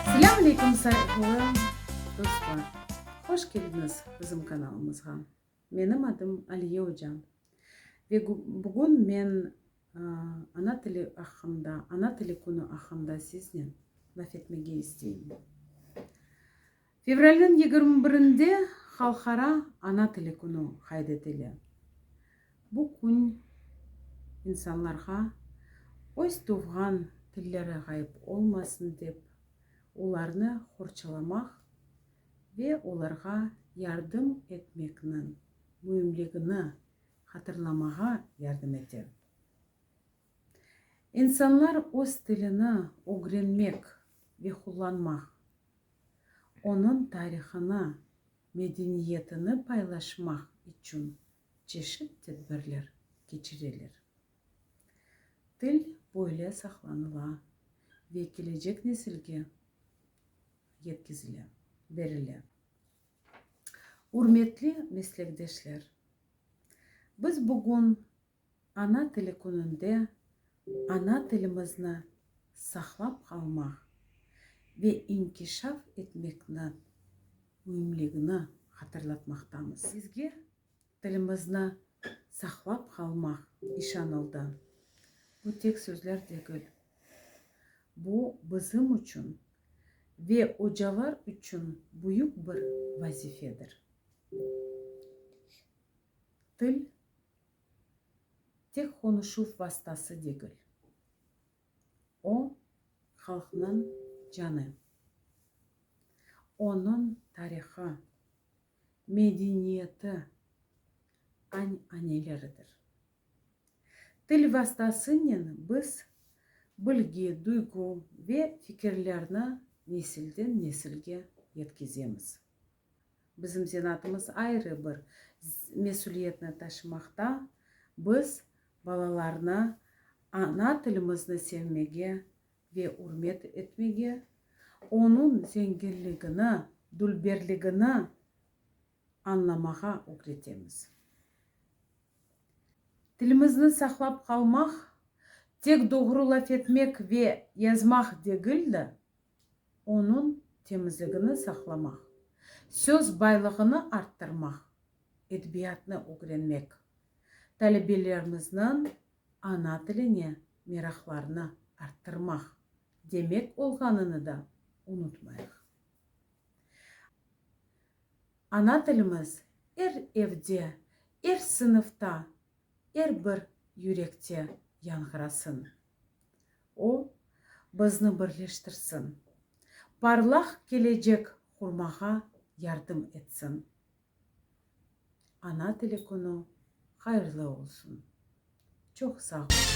Selâm aleyküm sayğılı dostlar! Hoş keldiñiz bizim kanalımızğa. Menim adım Aliye oca ve bugün men ana tili aqqında, ana tili künü aqqında siznen laf etmege isteyim. Fevralniñ yigirmi birinde Halqara ana tili künü qayd etile. Bu kün insanlarğa öz tuvğan tilleri ğayıp olmasın dep, olarnı qorçalamaq ve olarğa yardım etmekniñ müimligini hatırlamağa yardım ete. İnsanlar öz tilini ögrenmek ve qullanmaq Onıñ tarihını, medeniyetini paylaşmaq içün çeşit tedbirler keçireler. Til böyle saqlanıla ve kelecek nesilge yetkizile, berile. Ürmetli meslekdeşler, biz bugün Ana tili kününde ana tilimizni saqlap qalmaq ve inkişaf etmekni müimligini hatırlatmaqtamız. Bizge tilimizni saqlap qalmaq işanıldı. Bu tek sözler degil. Bu bizim içün ve ocalar içün büyük bir vazifedir. Til Tek qonuşuv vastası degil. O, halqnıñ canı. Onıñ tarihı, medeniyeti, añ-añeleridir. Til vastasınen biz bilgi, duygu ve fikirlerni nesilden-nesilge yetkizemiz. Bizim zenatımız ayrı bir mesüliyetni taşımaqta, biz balalarnı ana tilimizni sevmege ve ürmet etmege, onıñ zenginligini, dülberligini añlamağa ögretemiz. Tilimizni saqlap qalmaq, tek doğru laf etmek ve yazmaq degil de, onıñ temizligini saqlamaq, söz baylığını arttırmaq, edebiyatnı ögrenmek, talebelerimizniñ ana tiline meraqlarını arttırmaq demek olğanını da unutmayıq. Ana tilimiz er evde, er sınıfta, er bir yürekte yañğırasın! O, bizni birleştirsin. Parlaq kelecek qurmağa yardım etsin. Ana tili künü hayırlı olsun. Çoq sağ olunız.